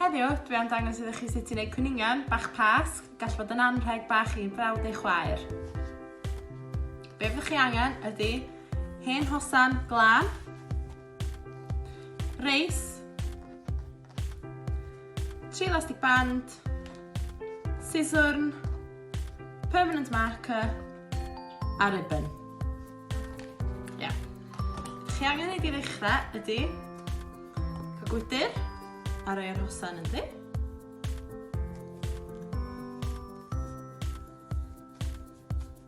Heddiw, dwi am dangos iddo chi sut i wneud cwningan bach pasg, gall fod yn anrheg bach i brawd ei chwaer. Be fyddwch chi angen ydy hen hosan glan, reis, Tri elastic band, siswrn, permanent marker a ribbon. Ia. Yeah. Chi angen ei ddechrau ydy cael gwydr a rhoi ar hosan ynddi.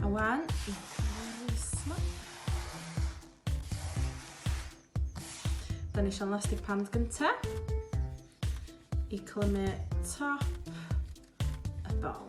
A wan, i ma. Da ni eisiau elastic pand gynta. I clymu top y bol.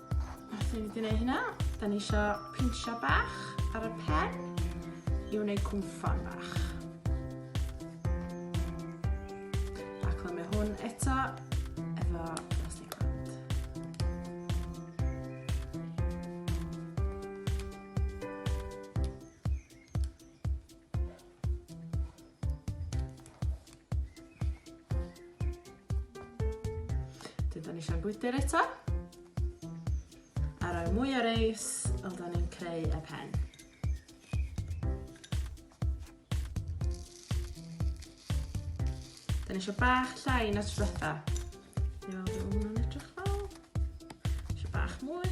Felly fi wedi gwneud hynna. Da ni eisiau pinsio bach ar y pen i wneud cwmffon bach. A clymu hwn eto efo plastic band. Dyn ni eisiau gwydr eto. A rhoi mwy o reis, ond da ni'n creu y pen. Dyn ni eisiau bach llai na trwetha. Iawn, dwi'n edrych fel. Eisiau bach mwy.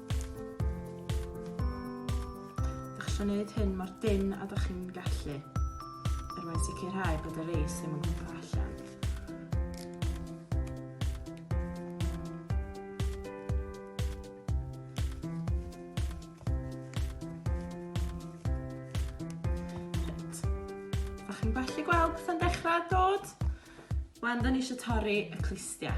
Ydych chi'n gwneud hyn mor dynn a ydych chi'n gallu er mwyn sicrhau bod y reis ddim yn gwmpa allan. Ydych chi'n gallu gweld beth yn dechrau dod? Wel, da ni eisiau torri y clustiau.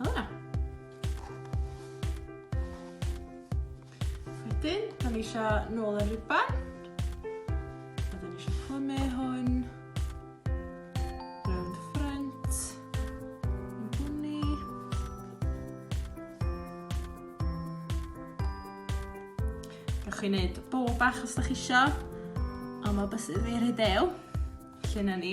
Hela. Wedyn, da ni eisiau nôl yr riban. A da ni eisiau plymu hwn. chi wneud bol bach os da chi isio, ond mae bus fi rhy dew, lle na ni.